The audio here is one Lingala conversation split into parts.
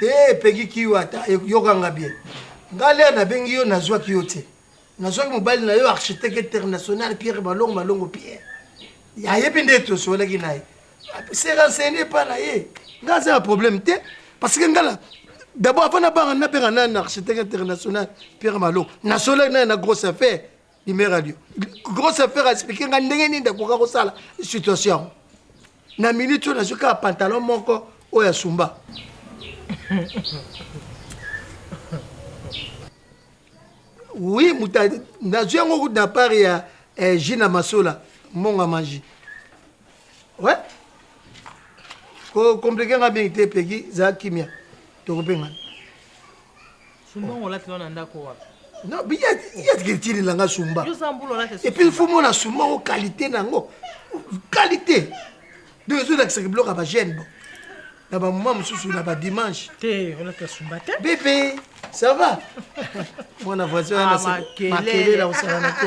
Te Peggy Kiyo ata yoka nga bien. Nga lea na bengi yo na zwaki yo te. Na zwaki mobali na yo architecte international Pierre Malongo Malongo Pierre. Ya yebi nde to solaki na ye. Se renseigner pas na ye. Nga za problème te parce que ngala d'abord avant na banga na benga na architecte international Pierre Malongo. Na solaki na na grosse affaire. Numéro radio. Grosse affaire expliquer nga ndenge nini ndakoka kosala situation. Na minute oyo nazwi kaka pantalon moko oyo asumba. oui muta nazwi yango kutu na part ya eh, jina masola monga maji we ouais. kokomplike nga mingi te peki za kimia tokopengana Sumba ngo lati wana ndako wapi? Non, mais il y a des tili langa sumba. Yo zambulo lati. Et puis il faut mona sumba o qualité nango. Qualité. Donc zo lakisa ki bloka ba jeune bon. Na ba maman mususu na ba dimanche. Te, on lati sumba te. Bébé, ça va? Mwana voisin na se. Makele la osala na te.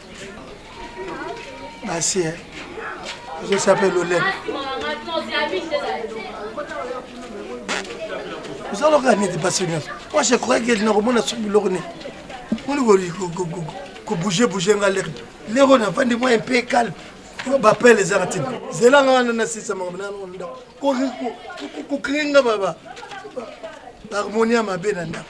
basi eh. ozosala mpe lolene ozalaka neti basi nyonso moi je croyais que nakomona soki biloko nini moni kobouge bouge nga lere lere oyo nafandi moi un peu calme bapele ezaka ntina zela nga wana nasisa makambo nano ndako kokrie nga harmonie ya mabe na ndako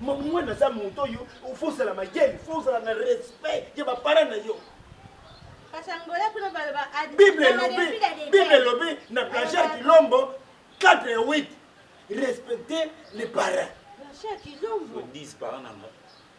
mwana aza moto oyo fo ozala mayele fo ozala na respect ya bapara na yo bible elobi bible elobi na plagiar kilombo 4 ya 8 respecter les parents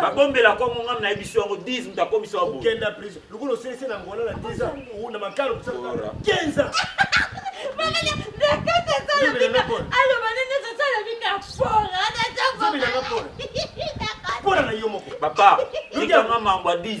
babombela kongo ngai nayebisi yango 10 moto akomisa wa bokenda prise lokola osilisi na ngola na 10 ans na makalo kosala 15 ans aloba nini ezosala bika fora mpona na yo moko papa yikanga mambo ya 10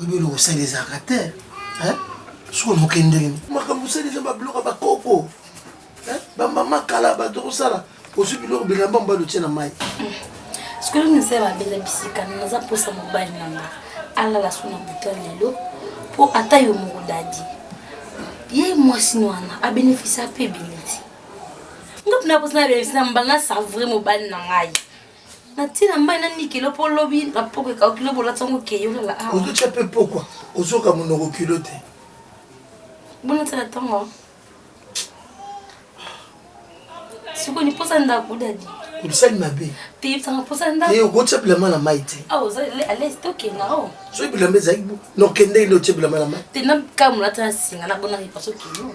oyebi eloko osali ezalaka te soki oloke ndenge makambo osali eza babiloko ya bakoko bamama kala bato kosala ozwi biloko bilamba mobali otye na mai sikoyo misala babeza bisika naza mposa mobali na nga alala so na buto lelo mpo ata yo moko dadi ye mwasi wana abénéficia mpe ebele te nga mpona mposa na abénéficia na mbala na savre mobali na ngai natina mai na nikelo mpo lobi na poko ekauki lobi olati yango keyo lala awa ozotya mpe pokwa ozoka monoko kilo te bonatala ntongo sikoyo niposa ndako dadi obisali mabe te yebisanga mposa ndako eh, okotya bilamba na mai te awa ah, oza alaise tokenda o oh. soki bilamba ezalaki nokendeki nde otya bilamba na mai te nakamolata na singa nabonaki paso kilo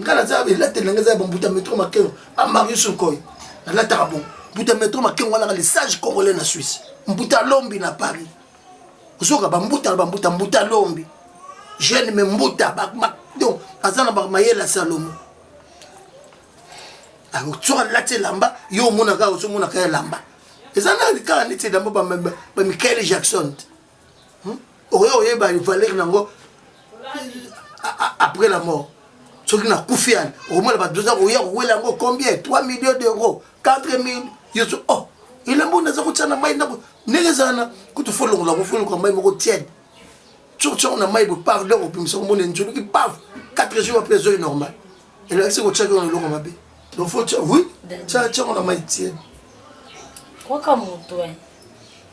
nga naza elateli na nga eza ya bambuta metro makengo ba mario surkoy nalataka bo mbuta metro makengo wana le sage congolais na suisse mbuta lombi na paris ozoka bambuta na bambuta mbuta lombi jeune me mbuta donc aza na bamayele ya salomo soki alati elamba yo omonaka ozomonaka elamba eza na kaka neti elamba bamikael jackson te hmm? okoki koyeba valeur nango après la mort soki nakufi yani okomona bato oza koya kowela yango combien 3 millions d'euros 4 mille yesu oh elambo naza kotya na mai ndako ndenge ezala na kutu folongola yango folongola mai moko tiene soki tyango na mai bopave donc opimisa komona enjoluki pave 4 jours apres ezoi normal elakisi kotyaki yango na eloko mabe donc fo tya oui tya tyango na mai tiene kwaka moto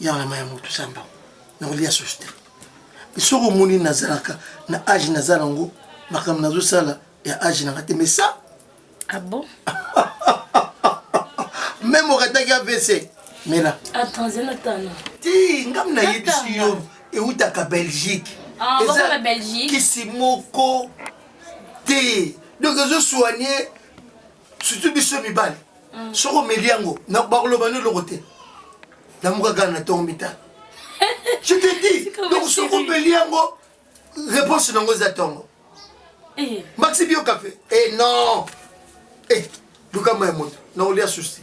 Yaka na mayi ya moto samba na kolia susu te mais soki omoni nazalaka na age naza nango makambo nazosala ya age nanga te mais ça ah bon meme okataki avc mela ti ngam nayebisi yo eutaka belgique ah, eza kisi moko te donc ezosoigne surtout biso mibali mm. soki omeli yango bakoloba no eloko te namukaka na ntongo mitano je te dis donc soki omeli yango réponse nango eza ntongo eh. maxi bio café e eh, non e eh, lukambo ya moto naolia susi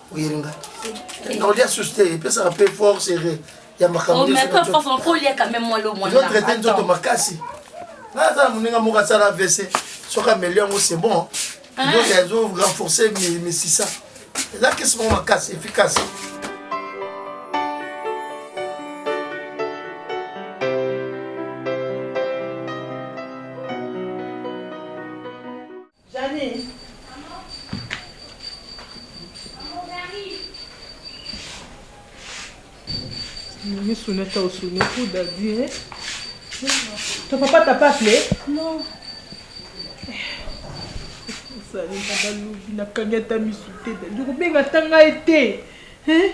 oyeli nga nakolia susu te epesaka mpe force ere ya makambotraite nzoto makasi naza na moninga moko asala avc soki ameli yango c'est bon nzoto azo renforce misisa eza kisi moko makasi efficace Jeanine Maman Maman j'arrive Nini sune ta osune ku dadi eh Ton papa t'a pas appelé Non Osali na balobi na kangata misute dadi okobenga ta ngai te eh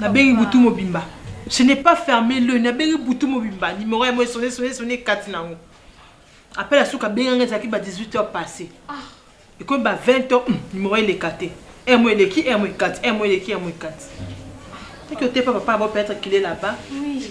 Na bengi butu mobimba. Je n'ai pas ferme l'oeil, na bengi butu mobimba. Numero ya moye sonne, sonne, sonne, ekati na yango. Appel ya suka abenga nga ezalaki ba 18 heures passe. Ekomi ba 20 heures, hum, numero eleka te. Heure moye eleki, heure moye ekati, heure moye eleki, heure moye ekati. Soki oteyi pa papa na bo peut-être qu'il est là-bas. Oui.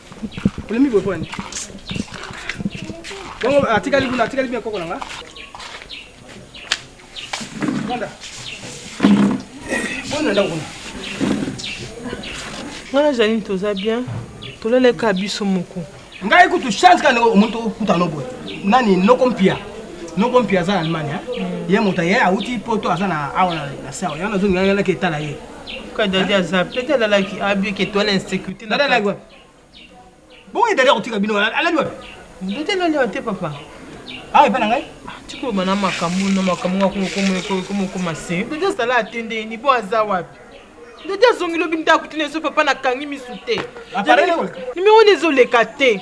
Olemi boye pona nini? Bongo atikali kuna, atikali bien koko na nga. Banda. Bona ndako kuna. Nga na Janine toza bien. Tolaleka biso moko. Ngai kutu chance kana omuntu okuta no boye. Nani noko mpia. Noko mpia za Allemagne. Ye moto ye auti poto aza na awa na sawa. Yana zongi yana ketala ye. Ka dadi aza pete alalaki abi ke toile insecurite na alalaki wapi bongo dadi akotika bino alali wapi dadi alali wapi te papa awa ah, epa na ngai ah, tikoloba na makambo na makambo ngakomokoma se dadi azala atende nibo aza wapi dadi azongi lobi ndako tina ezo papa nakangi misu te ah, nimero wana ezoleka te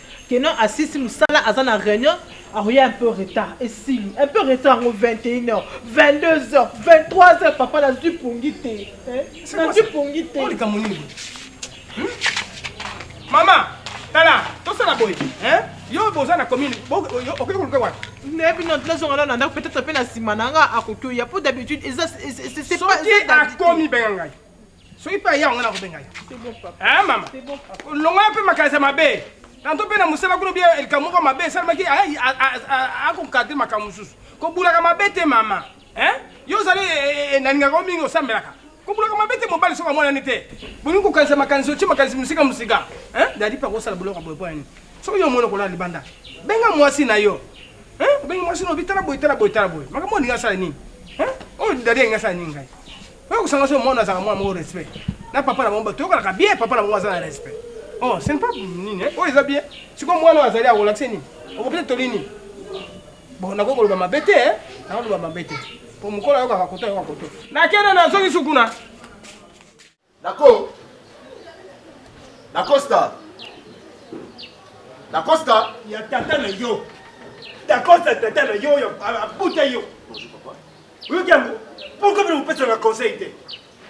Que non asilisi musala aza na reunion akoya un peu retard esili un peu retard yango 21 heures 22 heures 23 heures papa nazwi pongi te eh, nazwi pongi te likambo nini hmm? mama tala tosala boye hein yo boza na commune okoki koluka wapi nayebi no nazonga nano na ndako peut-être mpe na nsima na nga akoki oya mpo d'habitude eza soki akomi benga ngai soki mpe aya yango nakobenga ye eh, mama longola mpe makanisi ya mabe tanto mpe na mosala kuna bia likambo moko mabe esalemaki akonkadre makambo mosusu kobulaka mabe te mama eh? yo ozali eh, eh, nalingaka yo mingi osambelaka kobulaka mabe te mobali soki amonani te bolingi kokanisa makanisi otye makanisi mosika mosika dadi mpe akosala boloko boye mpo ya nini soki yo omoni okolala libanda benga mwasi na yo obengi mwasi na obi tala boye tala boye tala boye makambo olingi asala nini oyo dadi alingi asala nini ngai Oyo kusanga so mwana azaka mwana moko respect. Na papa na bomba toyoka ka bien papa na bomba azana respect. Oh, c'est pas nini. Oh, eza bien. Siko mwana azali a relaxer nini? Okopesa toli nini? Bon, nakoki koloba mabe te, eh? Nakoki koloba mabe te. Po mokolo ayokaka koto ayoka koto. Nakende na zongi sukuna. Nako. Nakosta. Nakosta. Ya tata na yo. Dacosta tata na yo abuta yo oyoki yango pourquoi bino mopesaka conseil te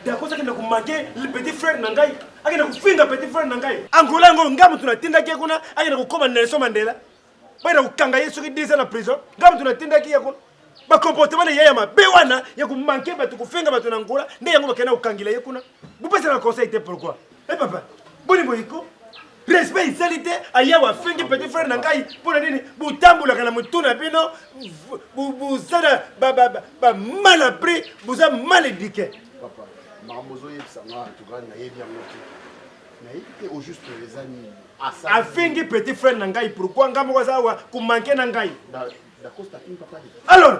dakosi akenda komanke le petit frère na ngai akenda kofinga petit frère na ngai angola yango ngai moto natindaki ye kuna akenda kokoma nelson mandela bakenda kokanga ye soki 10 ans na prison ngai moto natindaki ye kuna bacomportement na ye ya mabe wana ya komanke bato kofinga bato na angola nde yango bakenda kokangela ye kuna bopesaka conseil te pourquoi Eh papa, boni boye ko respect isali te ayawe afingi petit frère na ngai mpo na nini botambolaka na motu na bino bozala bamal apris boza mal éduqué papa makambo ozoyebisa nga antuka nayebi yango te nayebi te au juste eza nini afingi petit frère na ngai pourquoi ngai moko aza awa komanke na ngai alors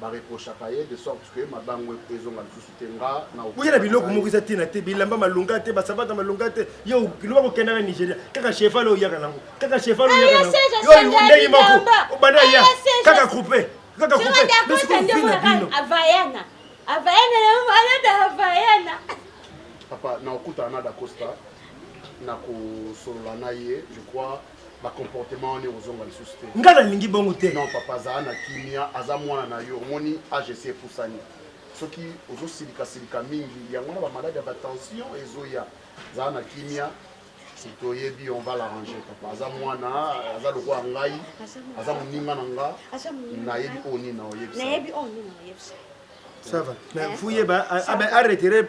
ba reprochaka ye de sorte que mabangu ezonga lisusu te nga na okoya na biloko moko eza tina te bilamba malonga te basabata malonga te yo loba kokenda na nigeria kaka cheval oyo oyaka nango kaka cheval oyo oyaka nango yo ndenge moko obanda ya kaka coupe kaka coupe bisi kofina bino avayana avayana na malada avayana papa na okutana na dacosta na kosolola na ye je crois ba comportement wana ekozonga lisusu te nga nalingi bongo te non papa azala na kimia aza mwana na yo omoni age esi epusani soki ozosilika silika mingi yango wana bamaladi ya batension ezoya zala na kimia toyebi on va l'arranger papa aza mwana aza lokola ngai aza moninga na nga nayebi oyo nini na oyebisa ça va mais fuyeba aretere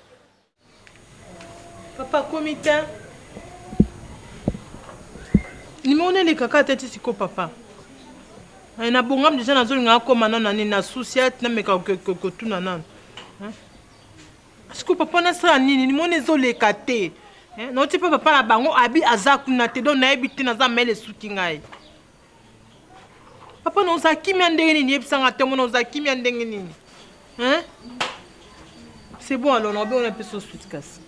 Papa komi te. Numéro nene kaka te ti siko papa. Eh, na bongam deja nazolinga akoma nano na nini na susi ati nameka kotuna nano siko papa nasala nini nimoni ezoleka te nauti mpe papa na bango abi aza kuna te don nayebi te naza mele esuki ngai Papa na oza kimia ndenge nini yebisa nga tomona oza kimia ndenge nini hein c'est bon alors naobe ona pesa osuti kasi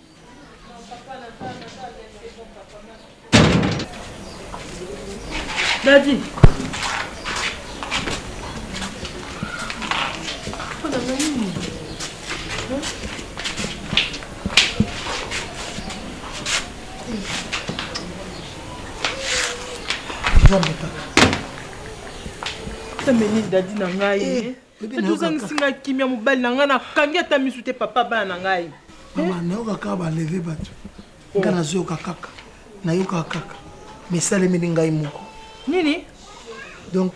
dadi meni dadi na ngai eh, eh, ozangisi ngai kimia mobali na ngai nakangi ata misu te papa bana na ngai mama eh? nayoka kaka baleve bato oh. ngai nazoyoka kaka nayokaka kaka misalemeli ngai moko nini donc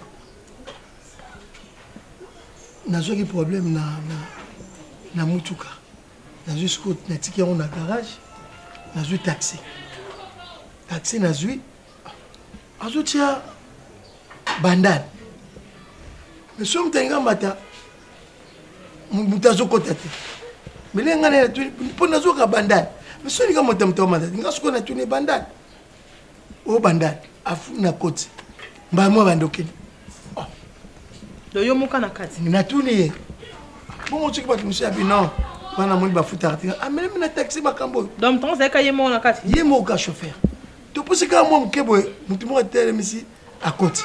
nazwaki problème na, na, na mutuka nazwi sikoyo natiki yango na garage nazwi taxi taxi nazwi azotia bandale me soki moto alinga mbata moto azokota te mele ngai natuni mpo nazoka bandale me soki olinga moto moto amata nga sikoyo natuni bandale o banda afu na koti mbala mwa banda okende oh. doyo moka na kati natuni ye bongo soki bato mosusu ya bino wana moni bafutaka te amelemi ah, na taxi makambo oyo donc ntango ozalaka ye moko na kati ye moko ka chauffeur topusi kaka mwa moke boye motu moko atelemisi akoti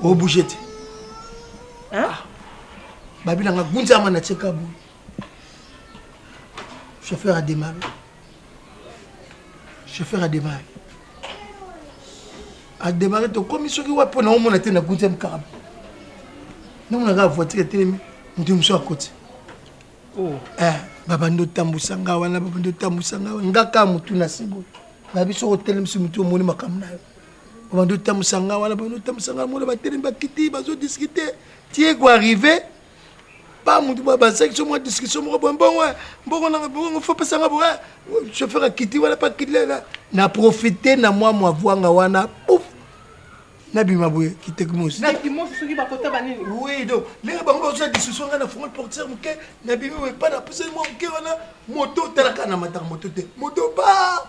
o bouge te hein ah. babila nga gunza mana cheka bu chauffeur a démarré chauffeur a démarré a démarré to komi soki wa pona o mona te na gunza mkarab na mona ga voiture telemi mutu muso akoti oh eh babandi otambusa nga wana babandi otambusa nga wana nga kaka motu na siboyo na biso otelemisi motu omoni makambo na yo obandi otambusa nga wana bandi otambusa nga mona batelemi bakiti bazodiskute tie ko arrive pa motu bazaki so mwa discussion moko boye mbongo mbongo nanga bongo fo pesa nga boye chauffeur akiti wana pa kiti lela na profite na mwa mwa vwanga wana pouf nabima boye kitekmosi oui donc ndenge bango bazosala discussion ngai na fongo portiere moke nabimi boye pa napusani mwa moke wana moto otalaka na mataka moto te moto ba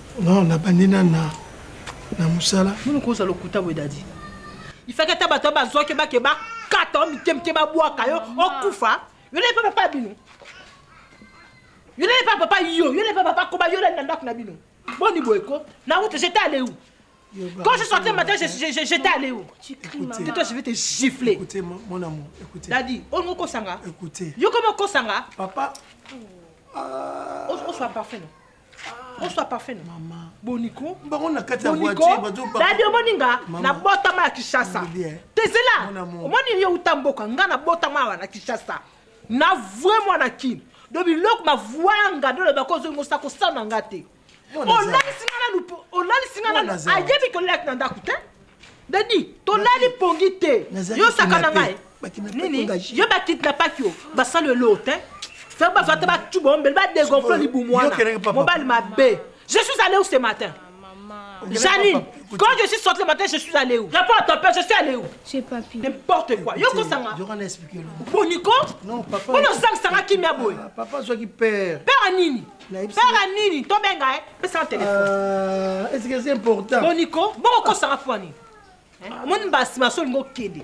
Non, na bandi na na na musala. Munu koza lokuta boye dadi. Ifaki ata bato bazwaki bake bakata o mike mike babwaka yo okufa. Yo na epa papa bino. Yo na epa papa yo, yo na epa papa koba yo na ndako na bino. Boni boye ko? Na route j'étais allé où? Quand je sortais le matin, j'étais allé où Tu cries, maman. Toi, je vais te gifler. Écoutez, mon amour, écoutez. Daddy, on nous kosanga. Écoutez. Yo comment kosanga Papa. Oh, on soit parfait, non oswa parfum na mama boniko bango na kati ya voiture bazo ba dadi omoni nga na botama ya Kinshasa tezela omoni yo uta mboka nga na botama awa na Kinshasa na vue mwana kin do biloko bavuanga ndo loba ko ozongi osa kosala na nga te olalisi nga nanu olalisi nga nanu ayebi kolelaki na ndako te Daddy, tolali pongi te. Yo saka na ngai. Nini? Yo ba kidnappaki yo. Basalo elote. Hein? Faire ba fata ba tuba ombele ba dégonfler libumwana. Mobali mabe. Je suis allé où ce matin? Janine, quand je suis sorti le matin, je suis allé où Réponds à ton père, je suis allé où Chez papy. N'importe quoi. Yoko Sanga. Durant l'expliquer. Boniko Non, papa. Boniko Sanga Sanga qui m'a boy. Papa, soit qui père. Père à Nini Pera nini tobenga eh? pesa telefone ah, est-ce que c'est important boniko bokokosaka pwani omoni mbasi maso olingi okende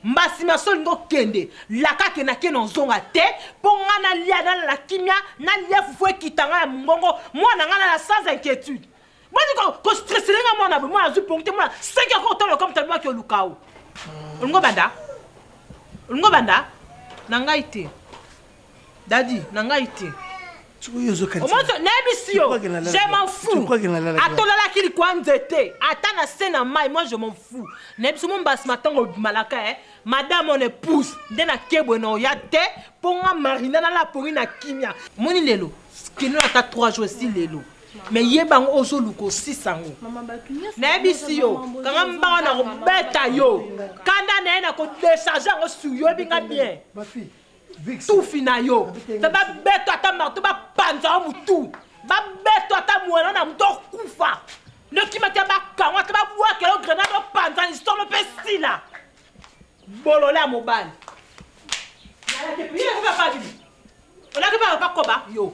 mbasi maso olingi okende lakake nake na ozonga te mpo ngai nalia nalala kimia nalia fufu ekita ngai ya mongongo mwana ngai nala sans inquiétude Mani ko ko stress lenga mwana bo mwana azu pongi te mwana 5 heures ko tolo comme tellement que lukao. Olingo banda? Olingo banda? Na ngai te. Dadi, na ngai te. nayebisi yo je m'en fous atolalaki likwa nzete ata na se na mai moi je m'en fous nayebisi mo mbasi matango obimalaka e eh. madame on épouse nde na kebwe na oya te mpo nga marina nalapori na kimia moni lelo kino ata 3 jours esi lelo me yeba yango ozoluka osisa yango nayebisi yo kanga mbanga na kobeta yo kanda na ye na kodecharge yango sur yo yebi nga bien tufi na yo mpe babeto ata marto bapanza yo motu babeto ata mwana na moto okufa nokima te bakangwa te babwaka yo grenade opanza lisolo mpe sila bolole ya mobali olaki baa bakoba yo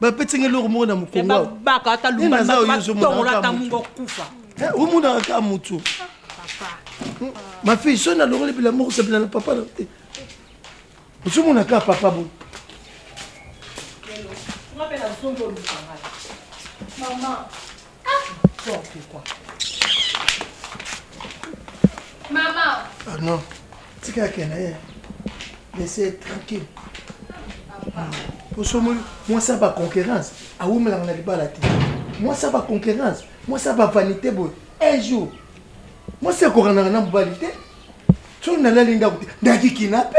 bapeti ngai eloko moko na mokongobaka ata lubatongola ata mungo okufa omonaka kaka motu mafille so nalongoli bila moko sabila na papa na te ozomona kaka papa bo Maman. non tika akenda ye laisse tranquille osomoli mwasi ya baconquérance awumelaka na libala te mwasi ya baconquérance mwasi ya bavanité boye un jour mwasi ekokanaka na mobali te soki nalali ndako te ndaki kinape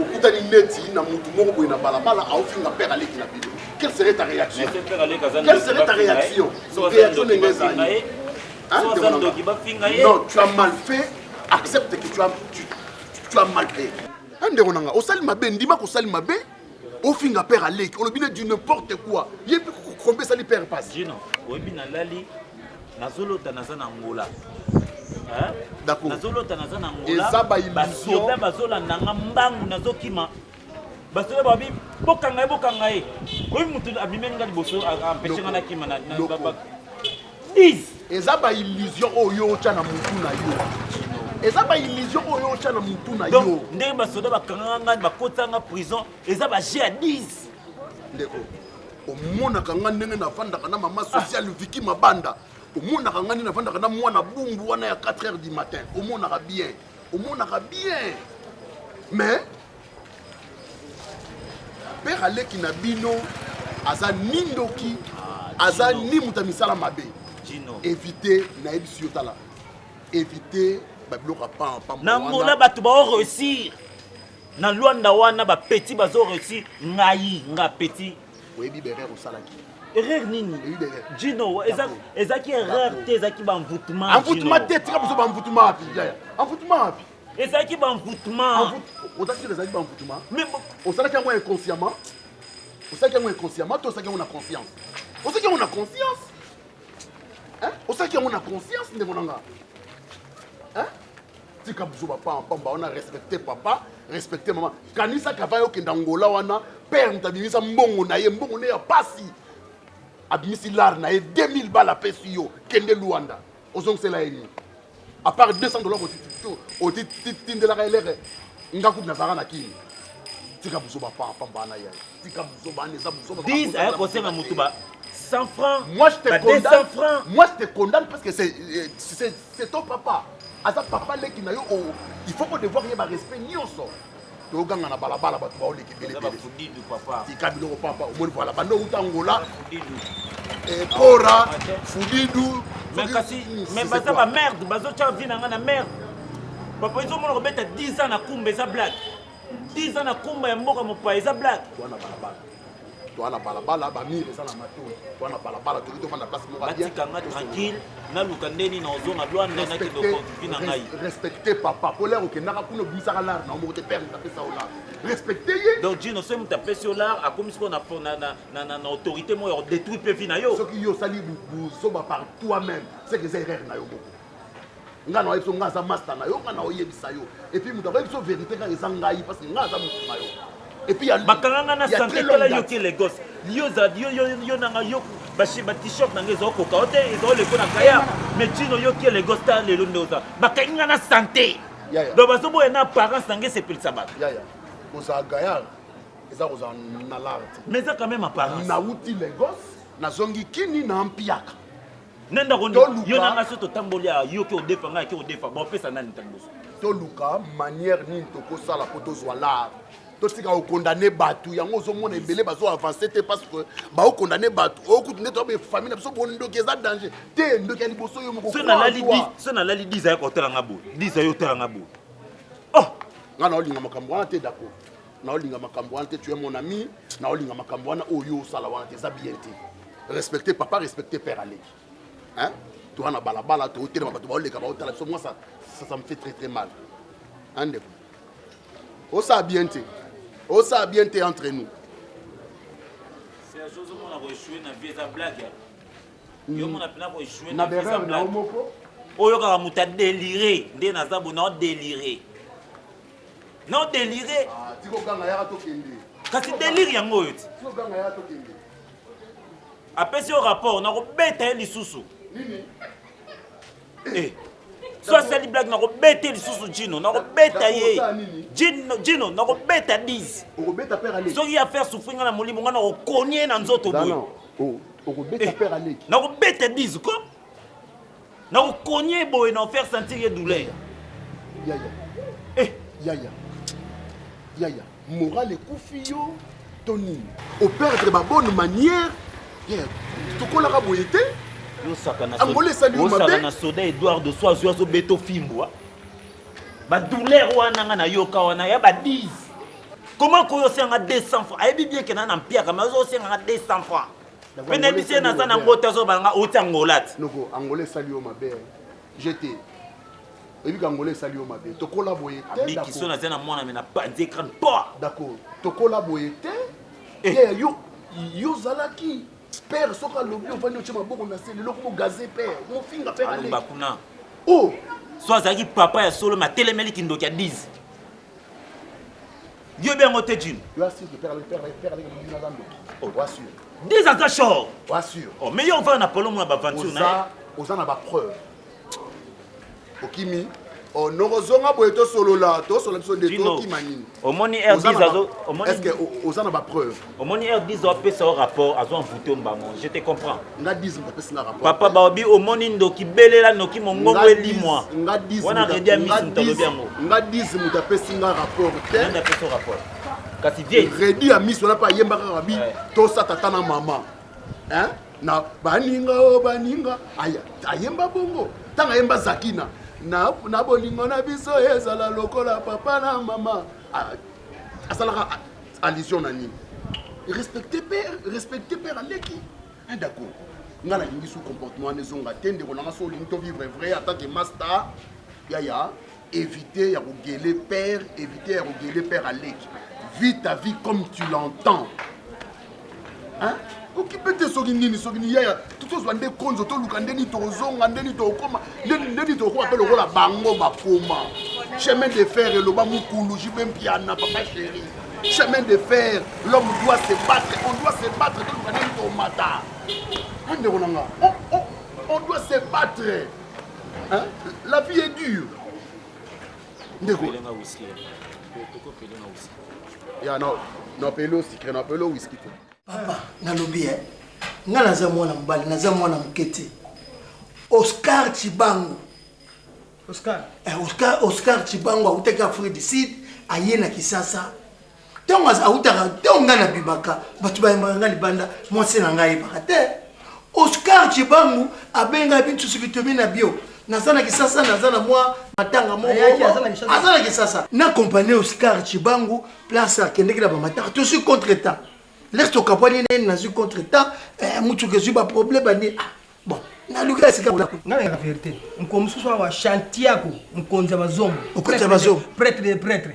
okutani neti na mutu moko boye na balabala aofinga père aleki na bino quelle serait ta réaction quelle serait ta réaction réaction ndenge ezali hein, non tu as mal fait accepte que tu as, tu, tu as mal fait hein, ndeko na nga osali mabe ndima kosali mabe ofinga père aleki olobi ne du n'importe quoi ye mpe kokombe esali père pasi jino oyebi nalali nazolota naza na ngola nazolota naza na ngolabasoda bazolanda nga mbangu nazokima basoda babi bokanga ye bokanga ye oyebi motu abimeli nga liboso ampeshe nga nakima 10 eza ba illusion oyo yo otya na mutu na yo eza ba illusion oyo otya na mutu na yo ndenge basoda bakangaka ngai bakotisa nga prison eza ba jeu ya 10 ndeko omonaka nga ndenge nafandaka na mama social ah. viki mabanda omonaka nga nde nafandaka na mwana bumbu wana ya 4 heures du matin omonaka bien omonaka bien mais père aleki na bino aza ni ndoki aza ni moto ya misala mabe évite nayebisi yo tala évite babiloko ya pampa na mona bato bao réussir na lwanda wana bapeti bazo réussir ngai nga peti oyebi berere osalaki erreur nini jino ezaki erreur te ezaki baenvoutement envoutement te tika biso baenvoutement wapi envoutement wapi ezalaki banvoutement oza sur ezalaki banvoutement osalaki yango inconsciemment osalaki yango inconsciemment to osalaki yango na conscience osalaki yango na conscience osalaki yango na conscience ndeko na nga tika buzoba pamba wana respecte papa respecte mama kanisa kava yokenda ngola wana père moto abimisa mbongo na ye mbongo ne ya pasi abimisi lare na ye 2000 bala apesi yo kende luanda ozongisela ye nini apart 200 dollars otindelaka elere nga kutu nazalaka na kini tika buzoba papa mbana ya tika buzoba ana eza buzoba dis aya kosenga motu ba 100 francs moi je te ba condamne 200 francs moi je te condamne parce que c'est euh, c'est c'est ton papa aza papa leki na yo oh, il faut ko devoir ye ba respect nyonso toganga na balabala bato baoleka ebeletika biloko papa omoni vala banda outa angola epora eh, fudidu mais kasi mais baza ba merde bazotya vi na ngai na merde papa ezomona kobeta 10 ans na kumba eza blague 10 ans na kumba ya mboka mopaya eza blague toa na balabala bamire eza na matoi toa na balabala toki tofanda place moko batikanga tranquille naluka nde nini ozonga lwanda nakende okonvivi na ngai respecte papa po lere okendaka kuna obimisaka lare na omoko te pere apesa yo lare respecte ye donc jino soki moto apesi yo lare akomi siko na autorité moko ya kodétruire mpe vi na yo soki yo osali buzoba par toi même seke eza erreur na yo moko nga na biso nga aza masta na yo nga na oyebisa yo et puis mutu akoyebi biso verité kaka eza ngai parce que nga aza mutu na yo et puis ya bakanga nga na santé tala yo ke Lagos yo za yo yo yo na nga yo ba ba t-shirt na nga ezo koka o te ezo leko na kaya mais chino yo ke Lagos ta lelo nde oza bakangi nga na santé donc bazo boya na apparence na nga esepelisa bato yaya kozala gayar eza kozala na larte mais eza quand même apparence nauti Lagos nazongi kini na mpiaka nani akondi yo na nga so totamboli awa yo ke odefa ngai ke odefa bopesa nani ntango liboso toluka manière nini tokosala mpo tozwa lar totika kokondane bato yango ozomona ebele bazo avance te parce que baokondane bato okutu nde toabe famille na biso bondoki eza danger te ndoki ya liboso yo moko so nalali 10 ayaka otala nga boye 10 ayo otala nga boye oh nga naolinga makambo wana te dako naolinga makambo wana te tu es mon ami naolinga makambo wana oyo osala wana te eza bien te respecte papa respecte père aleki hein toa na balabala tootelema bato baoleka baotala biso moi ça, ça, ça me fait très très mal hein ndeko osala bien te osala bien te entre nous na berere na yo moko oyokaka moto adelire nde naza bona odelire Non delire. Ah, tiko ganga yaka to kende. Kasi delire yango oyo ti. Tiko ganga yaka to kende. Apesi yo rapport na kobeta ye lisusu. Nini? Eh. So asali blague na kobeta lisusu Gino, na kobeta ye. Gino, Gino na kobeta 10. Okobeta père Ali. Soki ya faire souffrir nga na molimo nga na kokonie na nzoto boye. Oh, okobeta eh. père Ali. Na kobeta 10 ko. Na ko cogner boye na faire sentir ye douleur. Yaya. Eh, yaya. Yaya, morale ekufi yo to nini? O perdre ba bonne manière. Yaya, tokolaka boye te. Yo saka na Angola esali yo mabe. Yo saka na soda Edouard de Soazo azo beto fimbwa. Ba douleur wana nga na yoka wana ya ba 10. Comment koyo senga 200 francs? Ayebi bien que na na mpiaka mais ozo senga 200 francs. mpe nayebisi ye naza na yango te azobala nga outi angola te noko angola esali yo mabe jete oyebi kangola esali yo mabe tokola boye te bikiso naza na mwana me na panzi ekrane po d'accord tokola boye te eh. ye yo yo ozalaki père soki alobi ovandi otye maboko na se lelo koma gaze père mofinga père aleba kuna o oh! so azalaki papa ya solo matelemeli kindoki ya 10 Yo bien yango te Jim. Yo assure que père le père le père le mimi na zando. Oh, wa sûr. Des aza short. Wa sûr. Oh, mais yo va na polo mwa ba venture na. Oza oza na ba preuve. Okimi oh nokozonga boye tosolola tosolola biso nde tokima nini omoni rdis azo omoni est-ce que oza na ba preuve omoni heure 10 ans apesa yo rapport azo envoute mbango je te comprends nga 10 ans apesa na rapport papa baobi omoni ndoki belela noki mongongo elimwa nga 10 wana redi amisi moto alobi yango nga 10 moto apesi nga rapport te nani apesa rapport kasi vie redi amisi wana mpe ayembaka kaka bi tosa tata na mama hein na baninga o oh, baninga aya ayemba bongo ntango ayemba zakina na, na bolingo na biso ezala lokola papa na mama asalaka allusion na nini respecte père respecte père aleki un dako nga nalingi su comportement wana ezonga te ndeko nanga so olingi tovivre vrai atake masta yaya éviter ya kogele père éviter ya kogele père aleki vis ta vie comme tu l'entends Hein? okipe te soki nini soki ni yaya tozwa nde konzo toluka nde nini tokozonga nde nini tokokoma nde nini tokokoma mpe lokola bango bakoma chemin de fer eloba mokulu jibe mpiana papa chéri chemin de fer l'homme doit se battre on doit se battre toluka nde nini tokomata a ndeko na nga on doit se battre hein? la vie est dure ndeko ya na na pelo sikre na pelo whisky to papa nalobi eh nga naza mwana mobali naza mwana moke te oscar cibango oscar eh, oscar oscar cibango autaki afrique du sud aye na kisasa ntango awutaka ntango ngai nabimaka bato bayembaka ngai libanda mwasi na ngai ayebaka te oscar cibangu abengai bintu soki tomi na bio naza na kisasa naza na mwa matanga moko aza na kisasa na kompani oscar cibangu place akendeki na bamatanga tosi contre temps lese tokabwani na ye nazwi contre temps eh, motuka ezwi baproblème bani ah, bon naluki ya sika ngai nayaka verité mokolo mosusu awa chantiako mokonzi ya bazombo okoti ya bazombo pretre de pretre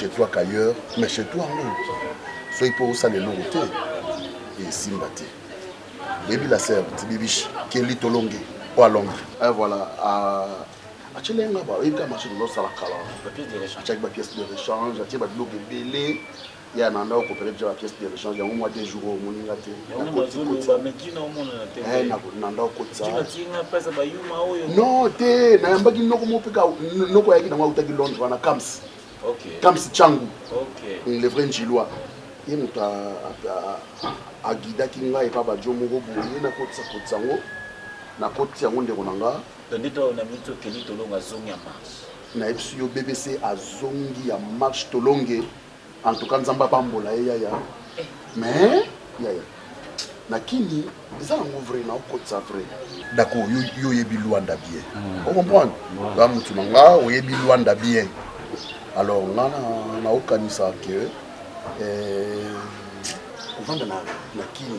chez toi qu'ailleurs mais chez toi ngo soki mpo osala eloko te esimba te oyebi la sœur tibibishi keli tolonge oyo alonge eh, voilà atyeli ye nga bayebi kaka machine ozosala kala atyaki bapièce de rechange atye babiloko ebele ye ananda okopere deja bapièce de rechange yango mwa te jour oyo omoni nga te nanda okotisanon te nayambaki noko moko mpe noko ayaki nango autaki londres wana kams kams changu le vrai njilois ye moto agidaki ngai epa bajo moko boye nakotisa kotisa yango nakotisi yango ndeko na nga Tondito oyo na minute oyo Kelly Tolongo azongi ya marche. Nayebisi yo BBC azongi ya marche Tolonge en tout cas Nzambe abambola ye yaya mais yaya na kini eza yango vrai na okotisa vrai dako yo oyebi Luanda bien mm. o comprendre nga mutu na nga oyebi Luanda bien alors nga na okanisa que eh, ovanda na kini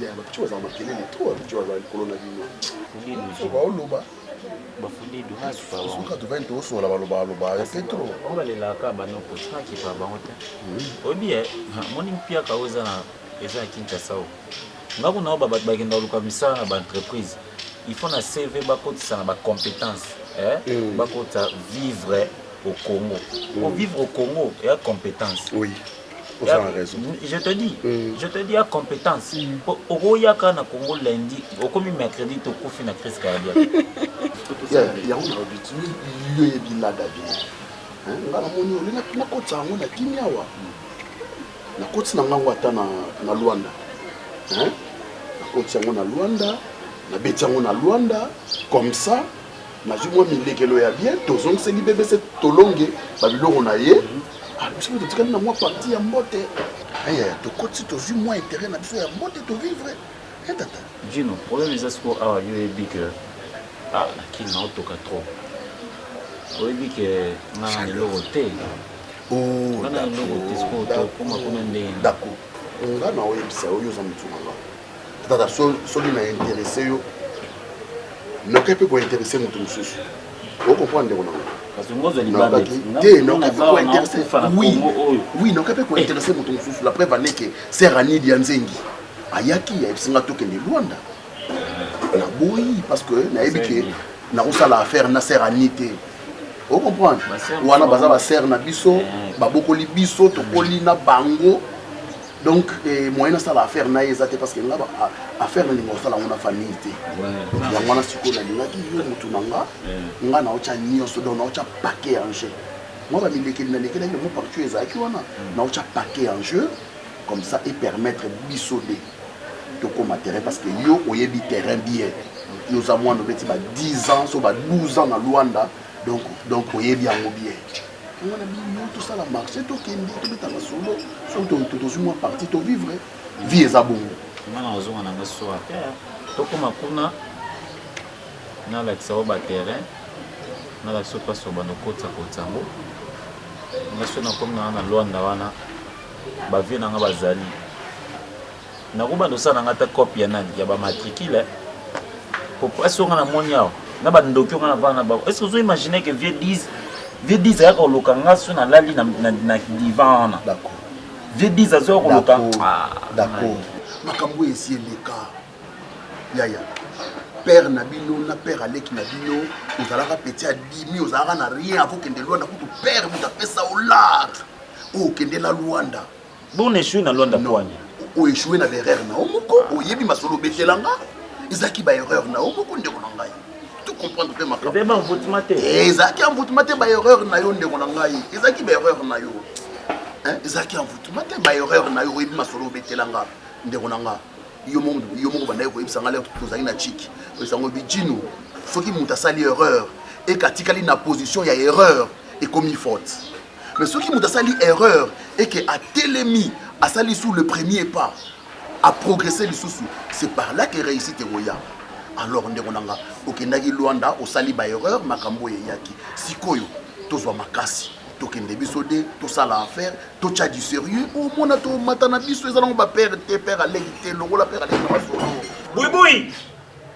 ya bapicho baza makelele trop bapicho baza likolo na bino baoloba bafudidu suka tovani tosola baloba baloba ya petro bango balelaka bano potika kipa bango te oyebi ye moni mpiaka oyo eza na eza ya kinshasa o nga kuna oyo bato bakenda koluka misala na baentreprise il faut na cv bakotisa na bacompétence eh? bakotisa vivre au congo ovivre au congo eya compétence oui. oza na raison je te dis mm. je te dis ya compétence mm. po okoyaka na congo lundi okomi mercredi tokufi na crise cardiaque yango nalobi timi yo yebi lada bino nga namoni oli nakotisa yango na kimia wa nakotisi na ngango ata na luanda nakotisi yango na luanda nabeti yango na luanda comme ça nazwi mwa milekelo ya bien tozongiseli bebe se tolonge babiloko na ye ah, biso mpe totikali na mwa parti ya mbote aya eh, tokoti tozwi mwa interet na biso ya mbote tovivre eh, tata jino problème eza sikoyo awa yo oyebi ke ah, na kini naotoka trop oyebi ke nga na eloko te nga na eloko te sikoyo tokoma kuna ndenge dako nga na oyebisa oyo oza motu na nga kaka soki na interesse yo noke mpe kointeresse moto mosusu okomprendre ndeko nangowi noke mpe kointeresse moto mosusu la preuve aneke ser anidi ya nzengi ayaki ayebisi nga tokende lwanda naboyi parce que nayebi ke nakosala affaire na ser ani te okomprendre wana baza baser na biso eh. babokoli biso tokoli na bango donc eh, moyen asala affaire na ye eza te parce que nga affaire nalinga kosala yango na famille te yango wana sikoyo nalingaki yo motu na nga nga naotya nyonso donc naotya paquet en jeu mwa bamilekeli nalekelaki yango partout oyo ezalaki wana naotya paquet en jeu comme ça epermettre biso nde tokóma terrain parce que yo oyebi terrain bien yo oza mwana obeti ba 10 ans so ba 12 ans na luanda donc donc oyebi yango bien yango na bino tosala marché tokende tobeta masolo soki tozwi mwa parti tovivre vie eza bongo nga na ozonga na nga soir tokoma kuna nalakisa yo baterrain nalakisa yo mpasi obanda okotisa kotisa yango nga so nakomi na nga na lwanda wana bavie na nga bazali Nako banda osala na nga ata cop ya nani ya ba matricule po pasi oyo nga na moni awa na ba ndoki oyo nga na vanda na bango est ce que ozo imaginer que vieux 10 vieux 10 ayaka koloka nga so na lali na, na, na divan wana D'accord. vieux 10 azoya koloka D'accord. Ah, D'accord. makambo oyo esi eleka yaya père na bino na père aleki na bino ozalaka petit adimi ozalaka na rien avokende lwanda kutu père moto apesa olar okende na lwanda Bon échoué na Luanda Kwanya. O échoué na erreur na yo moko, oyebi masolo obetela nga. Ezaki ba erreur na yo moko ndeko na ngai. Tu comprends mpe makambo. Ebe ba envoûtement te. Eh, ezaki envoûtement te ba erreur na yo ndeko na ngai. Ezaki ba erreur na yo. Hein, ezaki envoûtement te ba erreur na yo oyebi masolo obetela nga ndeko na nga. Yo moko yo moko bandaki koyebisa nga leo tozali na chiki. Oyesango bijino soki moto asali erreur ekatikali na position ya erreur ekomi faute. mais soki moto asali erreur eke atelemi asali sous le premier pas aprogresse lisusu c'est par là ke réussite ekoya alors ndeko na nga okendaki lwanda osali baerreur makambo oyo eyaki sikoyo tozwa makasi tokende biso de tosala affaire totya du sérieux omona tomata na biso eza nango bapere te pere aleki te lokola pere aleki na masolo boyboyi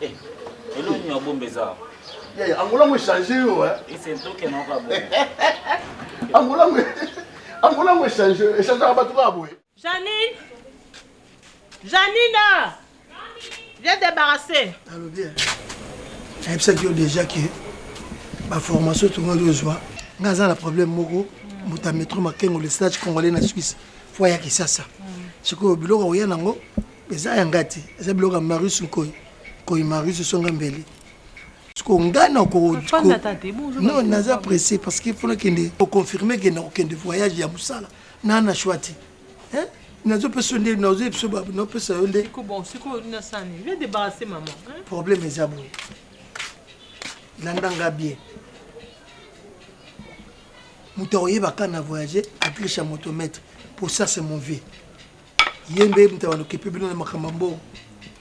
Eh, eloko nini obomba eza awa? Yaya, angola ngo echange yo eh. Ese ntoke na okabo. Angola ngo angola ngo echange, echange ka bato ka boye. Janine. Janina. Viens débarrasser. Allô bien. Ayebisaki yo déjà que ba formation tongaki ozwa nga aza na problème moko moto ya metro makengo le stage congolais na suisse fo ayaki sasa sikoyo biloko akoya nango eza ya nga te eza biloko ya marius nkoi nkoi marius songa mbele siko nga nakono naza presse parce que mpona kende oconfirme ke nakokende voyage ya mosala na na shwa te nazopesa yo nde nazoyebisa napesa yo nde problème eza boye landa nga bien moto akoyebaka na voyage atliche ya motomètre pour ça c'est mon vie ye nde moto ya balokepe bino na makambo ya mbongo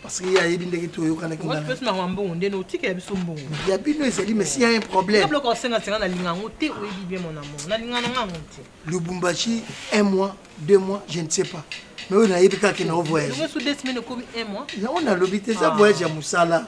parce que ye ayebi ndenge toyokanaki na pesi na mbongo nde otikela biso mbongo ya bino ezali mais si ya un problème biloko osenga senga nalinga yango te oyebi bien mon amour nalinga na nga yango te lubumbashi un mois deux mois je ne sais pas mais oyo nayebi kaka na ovoyage yango nalobi te eza ah. voyage ya mosala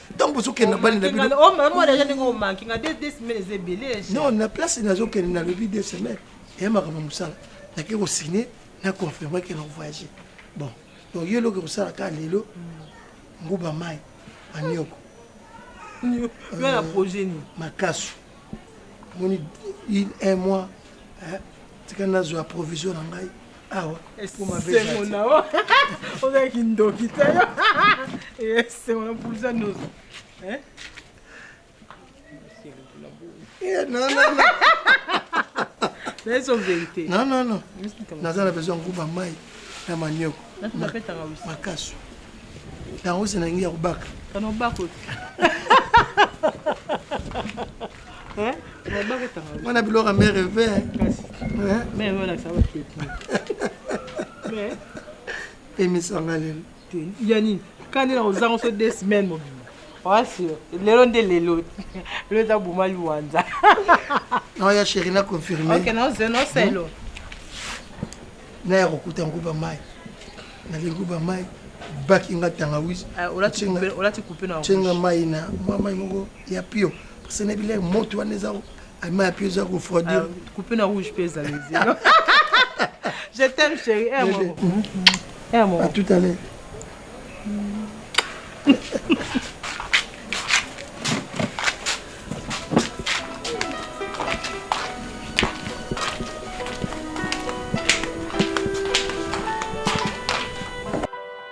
ntango bozokende na bani na bino oh, non na place nazokende nalobi de semaine eya makambo ya mosala nake kosigne na confirme ke na voyage bon donc yo eloko ekosala kaka lelo mm. nguba mai manioko euh, makasu moni un mois tika nazwa provision na ngai awa ekoma esengo na yo ozali kindoki te yo esengo na mpulisa ndozo nayeso verité non non non naza na besoin nguba mai na manioko makasu yango se na yangi ya kobaka Eh, mwana biloko me reve emisanga lelo ya nini kani na ozanga so de semaine mobima wasio lelo nde lelo lelo eza boma liwanza naoya chéri na confirmenoselo hmm? naya kokuta nguba mai nali nguba mai bakinga tangawisi ah, ocenga mai na mwa mai moko ya pio parce na bilei moto wana eza alima ya pio eza kofroidir ah, coupe na rouge mpe ezali zino je t'aime chéri eh, mhm. eh, à tout à l'heure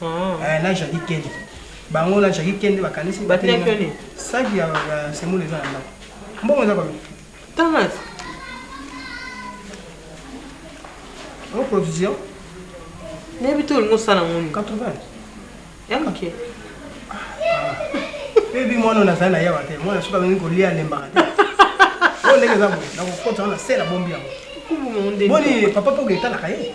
Ah. Eh, na jaki kende bango na jaki kende bakanisi saki ya semule eza na ndako mbongo eza babi tanas o provision nayebi te olingi osala ngoni 80 ya moke ebi mwana oyo nazali na yawa te mwana soki alingi kolia alembaka te oyo ndenge eza boye nakokota wana se na bombi yango boni papa mpo oketalaka ye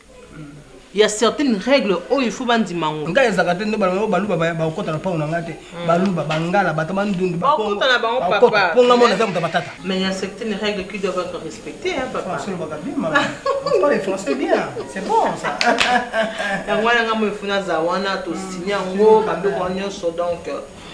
ya certaines règles oyo il faut bandima yango ngai ezaka te nde baloba baluba bakokota na mpango na ngai te hmm. baluba bangala bato bandundu bakokota na bango papa mpo ngai mona eza moto batata mais il y a certaines règles qui doivent être respectées hein papa français lobaka bien ma parle français bien c'est bon ça yango wana ngai moyefuna za wana tosinya yango hmm. babeko nyonso donc